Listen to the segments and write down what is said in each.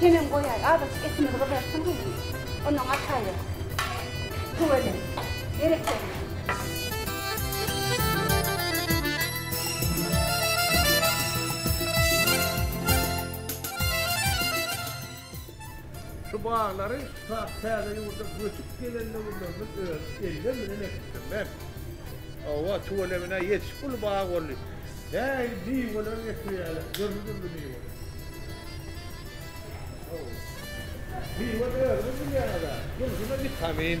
Hemem goýaý, azajyk etimiz gyzarsyn gyzym. Ondan gaçaýdyk. Tüweleme. Berekella. Şu baglary tutat täze ýurda göçüp gelen döwürlerimiz öz ellerim bilen ekipdim men. Hawa, tüweleme-ne ýetişip uly bag boldy. Häýli miweler ekilýärler, dürli-dürli miweler. Hawa. Miwe özüňiz bilýäňiz-ä, durşuna witamin.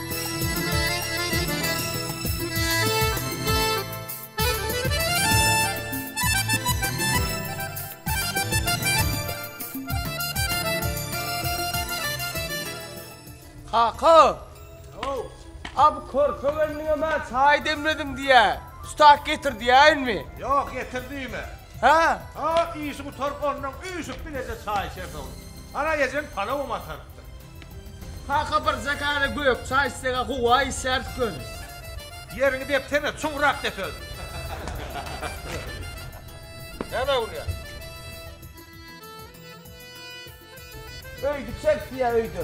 Kaka! Ho-ow! A bu körpe gelniňe mä çaý demledim diýýä. Tutak getir diýäýinmi? Ýok, getir diýme. Hä? Hop, işi gutaryp, onnoň üýşüp bileje çaý içersoň. Ana, ejeň palawam atarypdyr. Kaka bir zakara gök çaý islega howa içeris göni. Ýeriňi depsene çuňrak dep özüňi. Näme gülýäň. Öýde içeris diýýä öýde.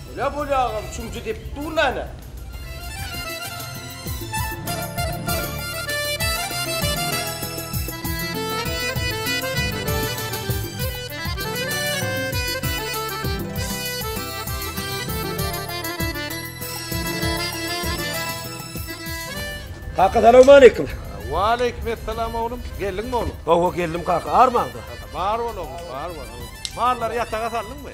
Öle bolýagam çümjü depip dur näme. Kaka salawmaleýkim. Waleýkim essalam oglum. Geldiňmi oglum? Hawa geldim kaka. Armaňda. Bar bol oglum bar bol. Mallary ýataga saldyňmy?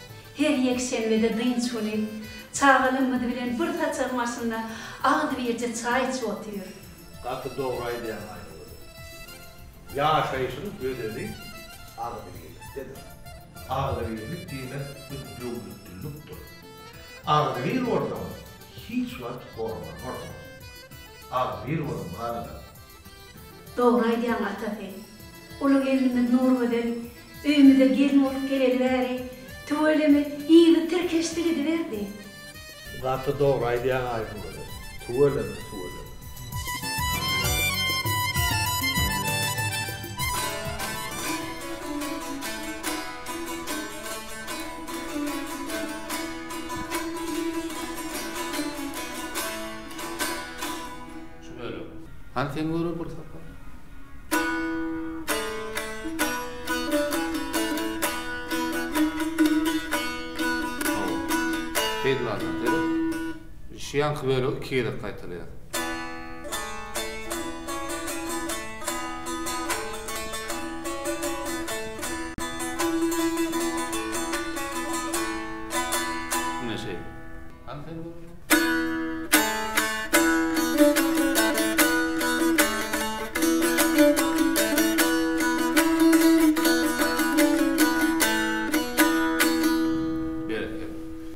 Her ýekşenbede dynç güni çagalarymyz bilen bir saçagyň başynda agzybirje çaý içip otyr. Gaty dogry aýdýaň Aýnagülüm. Ýaşaýşyň özeni agzybirlikdedir. Agzybirlik diýmek bu döwletlillikdir. Agzybir bolsaň hiç wagt horlanmarsyň. Agzybir boluň halylar. Dogry aýdýaň atasy. Uly gelnimiz Nurgözel öýümize gelin bolup geleli bäri tüweleme yzy tirkeşdi gidiberdi. Gaty dogry aýdýaň Aýgözel. Tüweleme tüweleme. Şu bölek. Hany sen göre bir sapar. Şu ýanky bölegi iki gezek gaýtalaýar. Mine şeýle. Hany sen göre.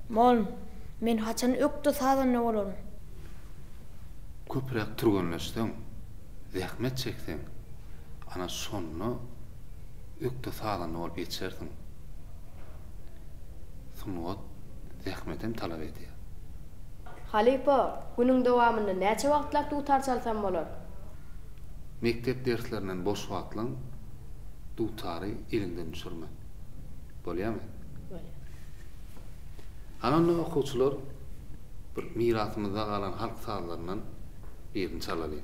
Mol, men haçan ökde sazanda bolaryn? Köpräk türgenleşseň, zähmet çekseň, ana şonda ökde sazanda bolup ýetersiň. Sungat zähmetem talap edýär. Halypa, günüň dowamynda näçe wagtlap dutar çalsam bolar? Mekdep derslerinden boş wagtlaň dutary eliňden düşürme. Bolýamy? Bolýar. Hany onda okuwçylar bir mirasymyzda galan halk sazlaryndan birini çalalyň.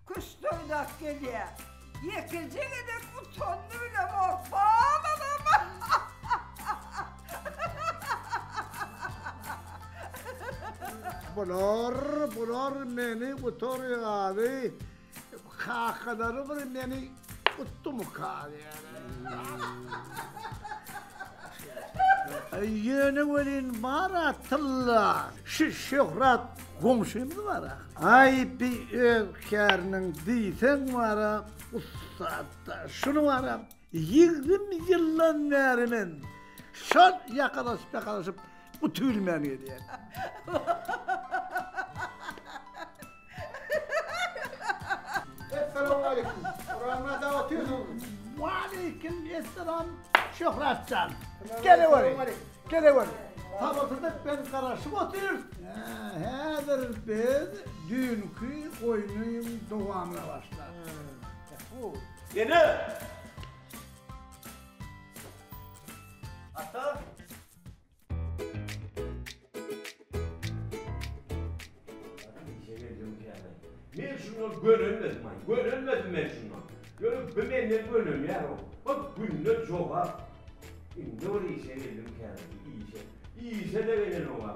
Köşkdoýdak gelýä. Ýekeje gezek utandy bile bor. Bal anam. Bular, bular meni gutarýar. Kakalary bir meni Utdu mu Ýöne welin bara tylla. Şu şöhrat goňşymyz bara. Aý bi öz käriniň diýseň bara ussatda. Şuny bara 20 ýyldan bäri men şol ýakadaşyp ýakadaşyp utubilmän gelýän. Essalawmaleýkim. Buramada otyrsyn. Waleýkim essalam Şöhrat jan. Geleweriň. Geleweriň. Sabyrsyzlyk bilen garaşyp otyrys. Häzir biz düýnki oýnuň dowamyna başlarys. Ene! Ata! Men şundan gönenmedim ay, gönenmedim men şundan. Görüp bir menden gönenýär o. Bak günde jogap. Indi bir işe geldim kârdi, işe. İşe de gelen o var.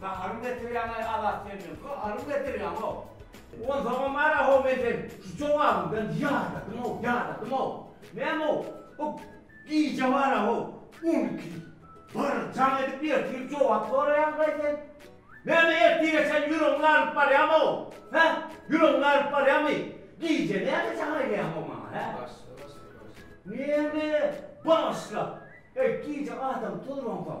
Gaharyň getirýäňaý Azat sen meň gaharyň getirýäňow. Onsoňam ara how men seni şu jogabyňdan ýadadymow ýadadymow. Nämow bu gije bara how on iki bir jaň edip ertir jogap soraýaňdaý sen. Näme ertire çen ýüregiňi alyp barýamow hä ýüregiňi alyp barýamy gije näme jaň edýäňow maňa hä. Başla başla başla. Näme başla eý gije adam tozransoň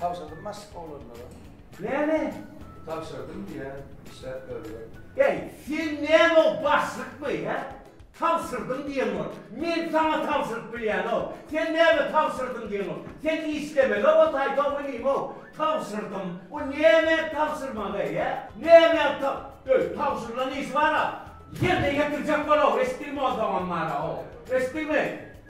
Tabşyrdym maşk oglanlara. Näme? Tabşyrdym diýýä işläp berdiler. Äý, sen näme o başlykmy, hä? Tabşyrdym diýen bor. Men saňa tabşyryp bilýänok. Sen näme tabşyrdym diýeňok. Sen işlemeli-ow o taýta bilim-ow. Tabşyrdym. Bu näme tabşyrmagy-eý, hä? Näme tab. Öý, tabşyrylan işi bar-a. Ýerine ýetirjek bol-ow, eşitdiňmi onsoň ammara-ow. Eşitdiňmi?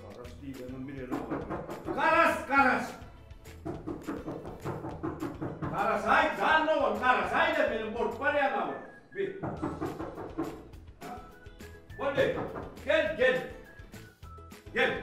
Garaş diýleniň bilelim. Garaş, garaş. Garaş aý, jan ogun, garaş aý da meni bolup barýan awy. Bir. Boldy. Gel, gel. Gel.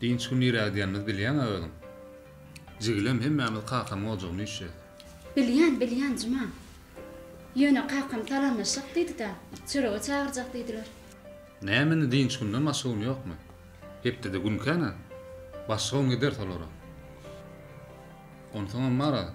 Dynç gün niräge gidýänimizi bilýäň-ä özüň. Jigilem hemmämiz kakamyň ojagyna üýşýäs. Bilýän, bilýän, Juma. Ýöne kakam salamlaşjak diýdi-dä, çörege çagyrjak diýdiler. Näme indi dynç günden başga gün ýokmy? Hepdede günkä-nä? Başga gün gideris olara. Onsoňam bar-a.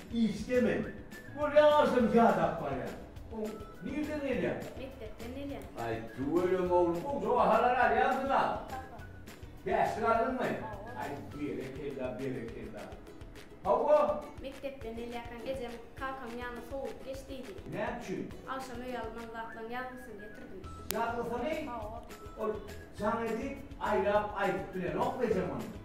Işdemän. Bol ýa agşam ýadap barýar. O nirden gelýär? Mekdepden gelýär. Aý tüweleme oglum goja bahalar alýansyň a? Hawa. Bäşlik aldyňmy? Hawa. Aý berekella berekella. Hawa. Mekdepden gelýärkäň ejem kakam ýanyna sowulyp geç diýdi. Näme üçin? Agşam öýe alynmaly zatlaň ýazgysyny getirdim. Ýazgysyny? Hawa. Ol jaň edip aýlap aýdyp bilenokmy ejem ony?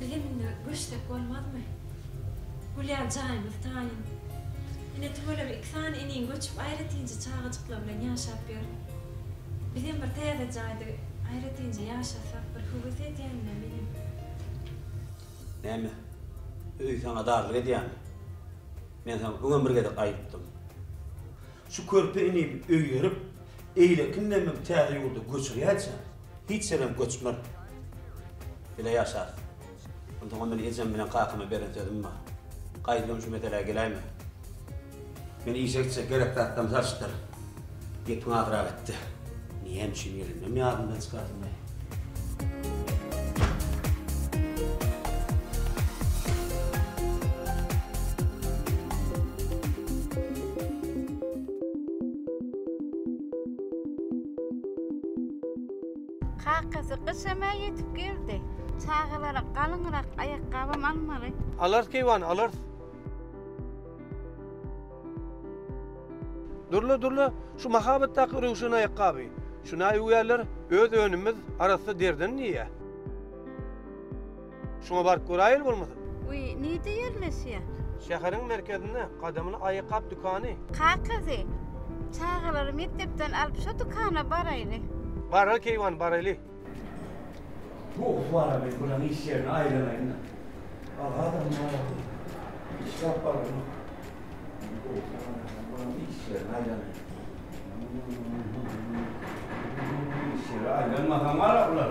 Bizem indi göçsek bolmazmy? Gülýär jaýymyz taýyn. Ine tüweleme iki sany iniň göçüp aýratynja çagajyklar bilen ýaşap ýör. Bizem bir täze jaýda aýratynja ýaşasak bir höwes edýänine menem. Näme? Öý saňa darlyk edýärmi? Men saňa öňem bir gezek aýytdym. Şu körpe inimi öýerip, eýlekin demini täze ýurda göçürýäýçä, Hiç ýerem göçmän. Bile ýaşarys. Onsoňam men ejem bilen kakama beren sözüm bar. Gaýdyňam şu meselä geläýme. Men işe gitjek gerek zatlarymy salyşdyr. Gepiň azyrak etde. Näme üçin gelendem ýadymdan çykardyňaý? Kakasy gyş emä ýetip geldi. Çagalara galyňrak aýakgabam almaly. Alarys keýwany, alarys. Durla, durla, şu mahabatdaky röwşen aýakgaby. Şunaý öwýärler, öz önümimiz arassa deriden diýýä. Şuňa baryp göräýeli bolmasa. Wiý, nirde ýerleşýär? Şäheriň merkezinde, gadymyny aýakgap dükany. Kakazy, çagalary mekdepden alyp şo dükana baraýly. Bara keýwan, baraýly. Gowy, wara men bulan iş ýerine aýlanaýyn-da. Agazam barada, işe alyp barlamak. Gowy, wara men bulan iş ýerine aýlanaýyn. Iş ýeri aýlanmasa maňa bular.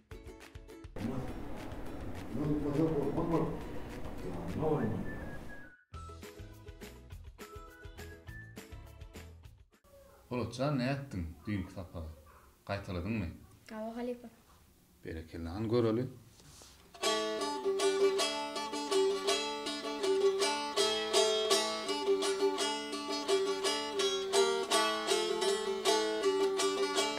Polatjan nätdiň düýnki sapagy gaýtaladyňmy. Hawa halypa. Berekella hany göreli.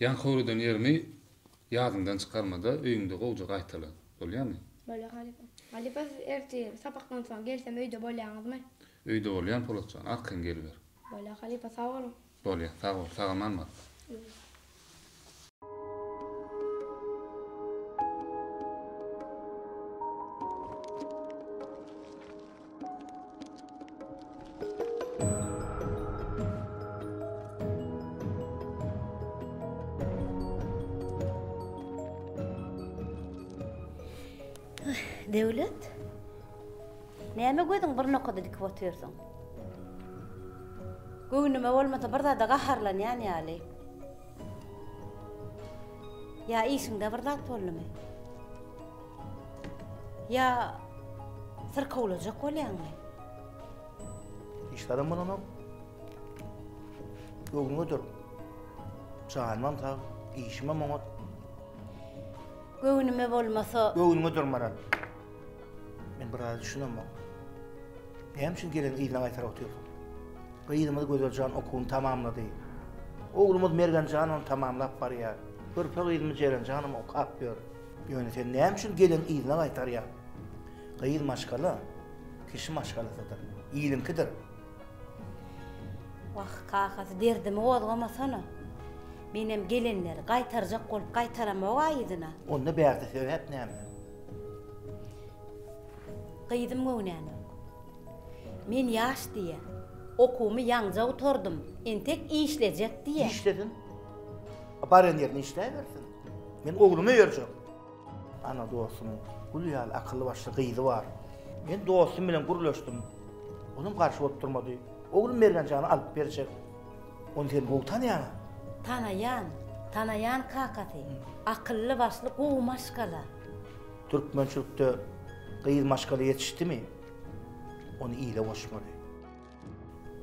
Ýan howludan ýerimi ýadyňdan çykarmada öýüňde gowja gaýtala. Bolýamy? Bolýar halypa. Halypa siz ertir sapakdan soň gelsem öýde bolýaňyzmy? Öýde bolýan Polat jan. Arkaýyn geliber. Bolýar halypa sag boluň. Bolýar sag bol. Sagaman bar. Döwlet. Näme gözüň bir nokada dikip otyrsyň? Göwnüme bolmasa bir zada gaharlanýan ýaly. Ýa işiňde bir zat boldumy? Ýa syrkawlajak bolýaňmy? Hiç zadam bolanok. Göwnüňe dur. Janymam sag, işimem oňat. Göwnüme bolmasa... Göwnüňe dur, Maral. Men bir zat düşünemok. Näme üçin gelin yzyna gaýtar otyrsyň? Gyzymyz Gözeljan okuwyny tamamlady. Oglumyz Mergenjanam tamamlap barýar. Körpe gyzymyz Jerenjanam okap ýör. Ýöne sen näme üçin gelin yzyna gaýtarýaň? Gyz maşgala, kişi maşgalasydyr, iliňkidir. Wah, kakasy derdimi gozgamasana. Menem gelinleri gaýtarjak bolup gaýtaramog-a yzyna. Onda bärde sebäp näme? Gyzym göwnänok. Men ýaş diýe, okuwymy ýaňja gutardym, entek işlejek diýe. Işlesin. Baran ýerinde işläbersin. Men ogluma berjek. Ana dostumyň gül ýaly akylly başly gyzy bar. Men dostum bilen gürleşdim. Olam garşy bolup durmady. Oglum Mergenjana alyp berjek. Ony sen gowy tanaýaňa? Tanaýan, tanaýan kakasy. Akylly başly gowy maşgala. Türkmençilikde gyz maşgala ýetişdimi, ony ile goşmaly.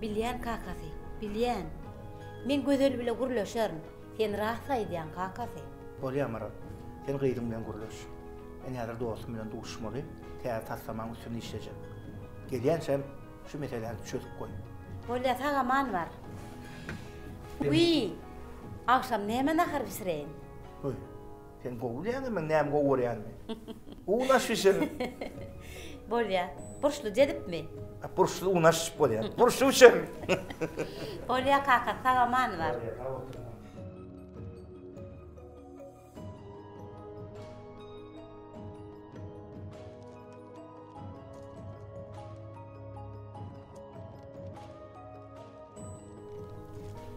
Bilýän kakasy, bilýän. Men Gözel bile gürleşerin. Sen rast aýdýaň kakasy. Bolýar Maral. Sen gyzyň bilen gürleş. Men häzir dostum bilen duşmaly, täze taslamaň üstünde işlejek. Gelýänçäm şu meseläni çözüp goý. Bolýar sag-aman bar. Wiý! Agşam näme nahar bişireýin? Goý. Sen gowy bilýäňmi meň näme gowy görýänimi? Un aş bişir. Bolýar. Burçly dezipmi? Burçly un aş bolýar. Burçly üçem. Bolýar kaka, sag aman bar.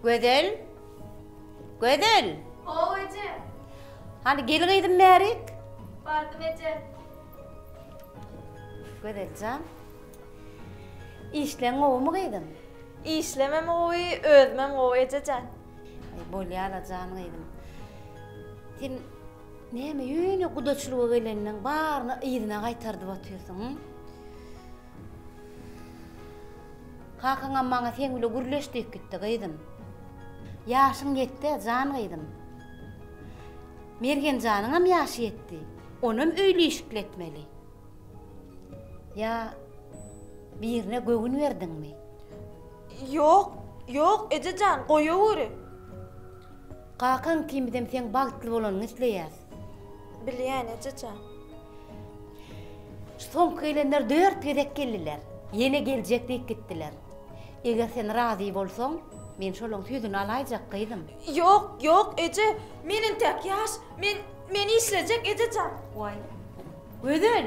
Gözel? Gözel! Haw, eje! Hany, gel gyzym bärik. Bardym, eje. Gözel jan, işleň gowumy gyzym? Işlemem gowy, özümem gowy, eje jan. Aý, bolýar-la jan gyzym. Sen näme ýöne gudaçylyga gelenleriň baryny yzyna gaýtardyp otyrsyň? Kakaňam maňa seň bile gürleş diýip gitdi, gyzym. Ýaşyň ýetdi, jan gyzym. Mergenjanyňam ýaşy ýetdi. Onam öýli-işikli etmeli. Ýa birine göwün berdiňmi? Ýok, ýok, eje jan, goýaweri. Kakaň ikimizem seň bagtly bolanyňy isleýäs. Bilýän eje jan. Soňky gelenler dört gezek geldiler. Ýene geljek diýip gitdiler. Eger sen razy bolsaň, men şolaň sözüni alaýjak, gyzym. Ýok, ýok, eje. Men entäk ýaş. Men, men işlejek, eje jan. Waý, Gözel!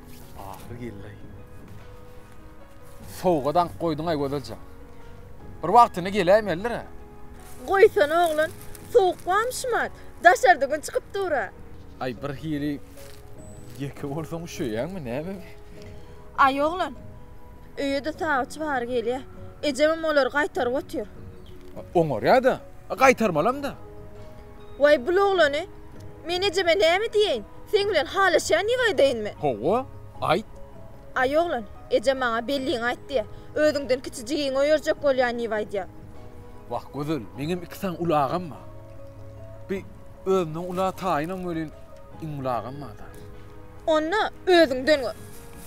Ahyry geldi-aý. Sowgat aňk goýduň-aý Gözel jan. Bir wagtyny geläýmelidir-ä. Goýsana oglan, sowuk bamyşym-a, daşarda gün çykyp dur-a. Aý bir hili ýeke bolsaň üşeýäňmi, näme bi? Aý oglan, öýe-de sagyçy bary gelýä. Ejemem olary gaýtaryp otyr. Oňarýa-da, gaýtarmalam-da. Waý, bul oglany! Men ejeme näme diýeýin? Seň bilen halaşýan ýygy aýdaýynmy? Hawa, aýt! Aý, oglan, ejem maňa belligiňi aýt diýýä. Özüňden kiçi jigiňi oýarjak bolýan ýygy aýdýa. Wah, gözel, meňem iki sany uly agam bar. Bi, özümden ula taýynam welin, iň uly agam bar-da. Onda, özüňden gör.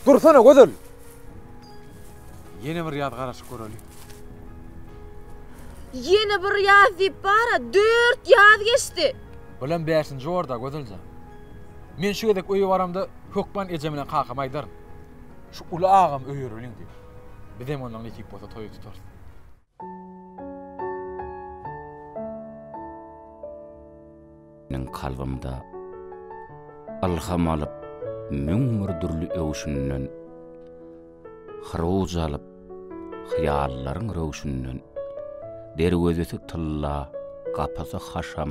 Dursana, gözel! Ýene bir ýaz garaşyp göreli. Ýene bir ýaz diýip bara dört ýaz geçdi. Bilen bäşinji orda Gözeljan. Men şu gezek öýe baramda hökman ejem bilen kakama aýdaryn. Şu uly agamy öýereliň diýip. Bizem ondan nesip bolsa toýy tutarys. Meniň kalbymda ylham alyp müň bir dürli öwşünden, Hyruwj alyp hyýallaryň röwşünden, Derwezesi tylla, gapysy haşam,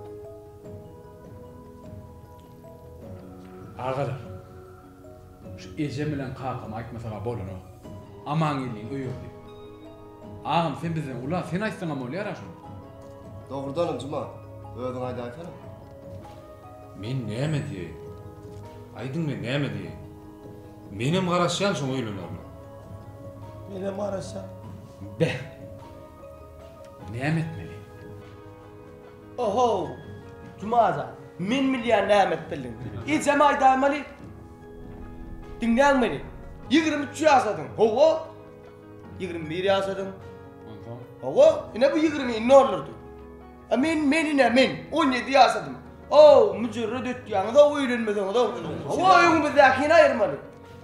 Agalar, şu ejem bilen kakama aýtmasak-a bolanok. Amangeldiň öý ogly. Agam, sen bizden ula, sen aýtsaň-a bolýar-a şony. Dogrudanam, Juma, özüň aýdaýsana. Men näme diýeýin? Aýdyň, men näme diýeýin? Menem garaşýan şoň öýlenerine. Menem garaşýan. Beh! Näme etmeli? Ohow! Jumaja, men bilýän näme etdildiň. Ejem aýdaýmaly. Diňläň meni. Ýigrimi üç ýaşadyň. Hawa. Ýigrimi bir ýaşadyň. Onsoň? Hawa, ine bu ýigrimi indi oldurdy. A men, men ine men, on ýedi ýaşadym. Ow, müjerret ötýäňiz-ow öýlenmeseňiz-ow. Hawa, öňümizdäki hini aýyrmaly.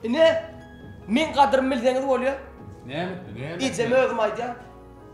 Ine, meň gadyrymy bilseňiz bolýa. Näme etdi, näme etdi? Ejeme özüm aýdýan.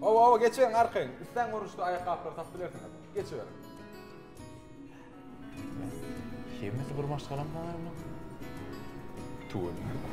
Hawa hawa geçiň arkaýyn. Isleň görnüşde aýakgaplary tapyp bilersiňiz. Geçiberiň. Hemmesi bir maşgalam bagay munuň. Tüweleme.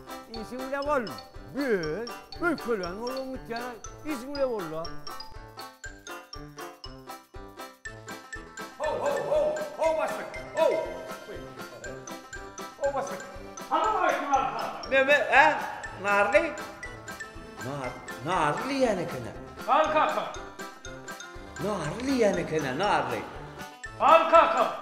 Işiň bile bol. Böl. Bölkelän bolsaň gitýär. Işiň bile bolla. Neme, ä? Narly? Nar, narly diýýän eken-ä. Al kaka. Narly diýýän eken-ä, narly. Al kaka.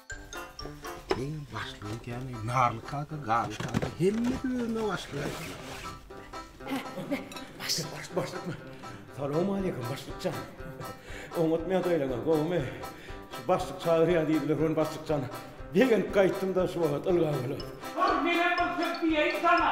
Eý, başlygy ikän, narly kaka, garly kaka, hemmesi özüne başlyk aýtdy. Başlyk, başlyk, başlykmy? Salowmaleýkim, başlykjan. Oňatmaýan saýlaňa, gowumy? Şu başlyk çagyrýar diýdiler, men başlykjan begenip gaýtdym-da, şu wagt ylgaw bolup. Dur, menem bir söz diýeýin saňa.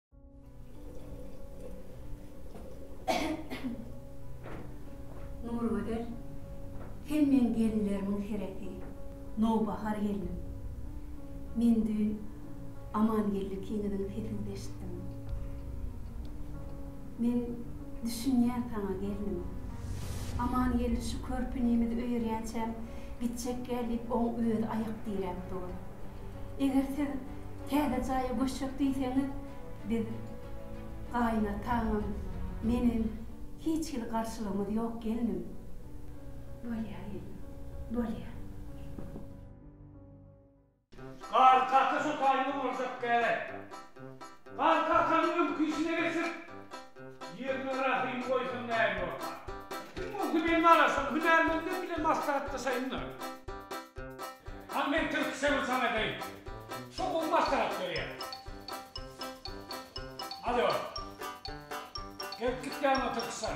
Nurgözel, sen meň gelinlerimiň seresi, nowbahar gelnim. Men düýn Amangeldi kiňiziň sesini eşitdim. Men düşünýän saňa, gelnim. Amangeldi şu körpünimiz öýerýänçäm gitjekgä diýip oň özi aýak diräp dur. Eger siz Täze jaýa göçjek diýseňiz, biz gaýynataňam, menem hiç hili garşylygymyz ýok gelnim. Bolýar gelnim, bolýar. Garry kaka şu taýyny urjak däl. Garry kakanyň öňki işine geçip. Ýerine rahym goýsaň näme bolsa. Kim bolsa meni garaşan hünärmenler bilen maslahatlaşaýynlar. Al men türkçe bir saňa edeýin. Şo gowy maslahat berýär. Alýo. Gelip gitýäňmi türkçe.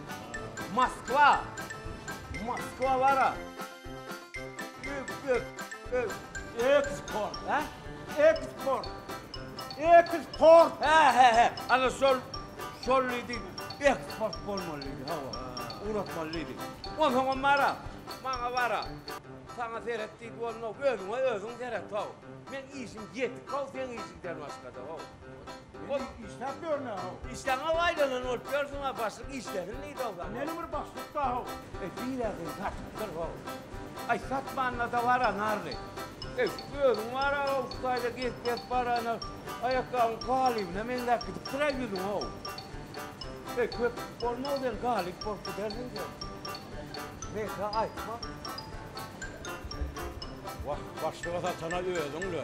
Moskwa! Moskwa bara! Öp, öp, öp! Eksport, hä? Eksport! Eksport! Hä-hä-hä! Ana şol, şol diýdi, eksport bolmaly diýdi, hawa. Ugratmaly diýdi. Onsoňam bara, maňa bara. Saňa seret diýdi bolmaz, özüňe özüň seret-how. Meň işim ýetik-how seň işiňden başga-da-how. Ol işläp ýörne-how. Işleňe baýlanan bolup ýörsüň-ä, başlyk işlesin diýdi-ow. Näme bir başlyk-da-how. Eý, biräýden satypdyr-how. Aý, satmanda-da bara narly. Eý, şu özüň bar-a, şu taýda gezip-gezip baranyň, aýakgabyň galybna meňzäp gidipdir-ä ýüzüň-how. Eý, köp bolmaz welin, galyp bolup gidersiň sen. Meýsa aýtma. Wah, başlyga satana özüň-le.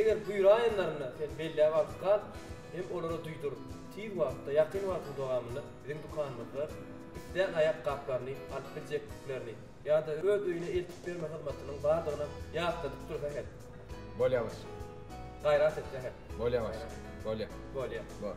Eger buýraýanlarynda sen belläp alyp gal hem olara duýdur, tiz wagtda, ýakyn wagtyň dowamynda biziň dükanymyzda ipden aýak gaplaryny alyp biljekdiklerini ýa-da öz öýüne eltip berme hyzmatynyň bardygyny ýatladyp dursa her. Bolýa başym. Gaýrat etse her. Bolýa başym. Bolýa. Bolýa. Bor.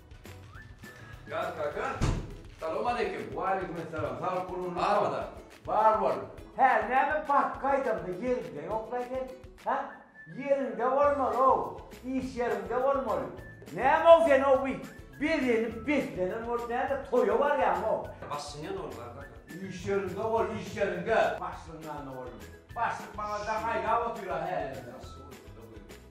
Ýaz kaka, Salam aleýkim! Waleýkim salam, sag bol gurbuny barmyda? Bar bol! Hä, näme bank gaýdamda ýeriňde ýokla sen? Hä? Ýeriňde bolmaly-ow, iş ýeriňde bolmaly. Näme-ow sen ow bi bezenip beslenen bolup näme toýa barýaňow? Başlygyň ýanynda bolup bar kaka. Iş ýeriňde bol, iş ýeriňde! Başlygyň ýanynda boldum. Başlyk maňa daň aýlap otyr-a hälem-de. Başlyk ol, şunda goýberýär.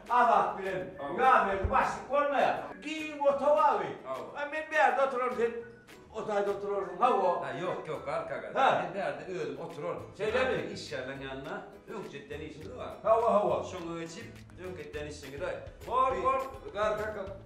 Azat bilen Ýazberdi başlyk bolmaýar. Giň ota baby. A men bärde oturaryn sen o taýda oturarsyň. Hawa. Hä ýok ýok Galka aga. Men bärde özüm oturaryn. Şeýlemi? Işgärleriň ýanynda öňki etýän işimiz bar. Hawa hawa. Şoňa geçip öňki etýän işiňize. Bor bor Galka aka.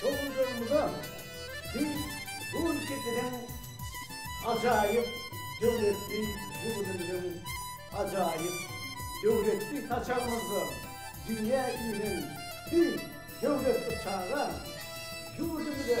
Şol ýyllarymyzda biz bu ülkejeden ajaýyp döwletli ýurdumyzyň ajaýyp döwletli saçagymyzda dünýä inen bir döwletli çaga ýurdumyza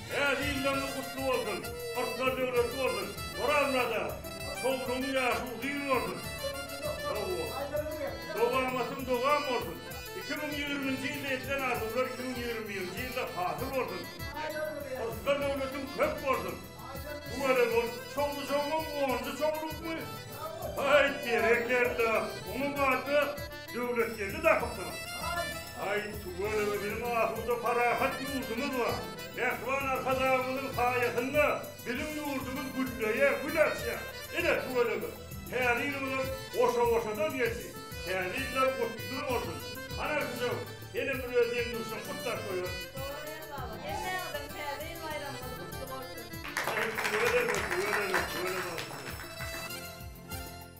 Täze ýyllarňyz gutly bolsun, Kyrklar döwletli bolsun, Orazmyrada çowlugyň ýaşy uzyn bolsun, dowamatyň dowam bolsun, iki müň ýigriminji ýylda edilen arzuwlar iki müň ýigrimi birinji ýylda hasyl bolsun, Kyrklar döwletiň köp bolsun. Bu welin ol çowlujagyň onunjy çowlukmy? Haýt berekella! Oňa batda Döwletgeldi Dahypsow, Aý, tüweleme biziň asuda parahat ýurdumyz bar. Mähriban Arkadagymyzyň saýasynda biziň ýurdumyz gülleýär, gül açýar. Ine, tüweleme, Täze ýylymyzam goşa-goşadan geldi. Täze ýyllar gutly bolsun. Anarkisow, senem bir öz deň-duşlaň gutlap goýaly. Dogry Ýer baba, hemmäňiziň Täze ýyl baýramyňyz gutly bolsun! Aý, tüweleme, tüweleme, tüweleme, Anarkisow!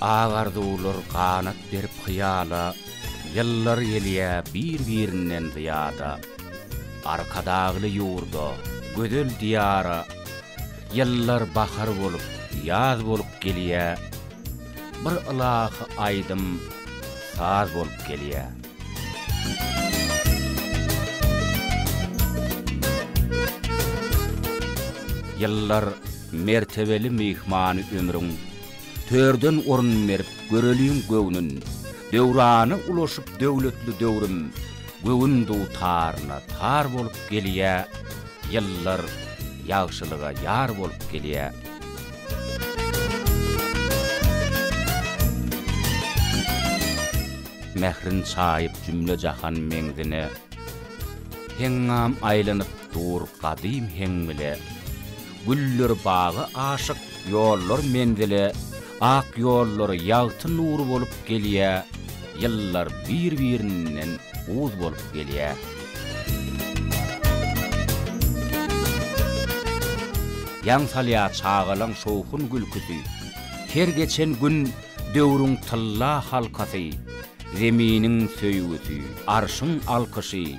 Ak arzuwlar ganat berip hyýala, Ýyllar gelýä bir-birinden zyýada. Arkadagly ýurda, gözel Diýara, Ýyllar bahar bolup, ýaz bolup gelýä. Bir ylahy aýdym, saz bolup gelýä. Ýyllar, mertebeli myhmany ömrüň, Törden orun berip göreliň göwnün, Döwrana ulaşyp döwletli döwrüm, Göwün dutaryna tar bolup gelýä, Ýyllar ýagşylyga ýar bolup gelýä. Mährin çaýyp jümle-jahan meňzine, Heňňam aýlanyp dur gadym heň bile. Güller baga aşyk, ýollar menzile, Ak ýollar ýagty nur bolup gelýä, Ýyllar bir-birinden uz bolup gelýä. Ýaň salýa çagalaň şowhun-gülküsi, Her geçen gün döwrüň tylla halkasy, Zeminiň söýgüsi, arşyň alkyşy,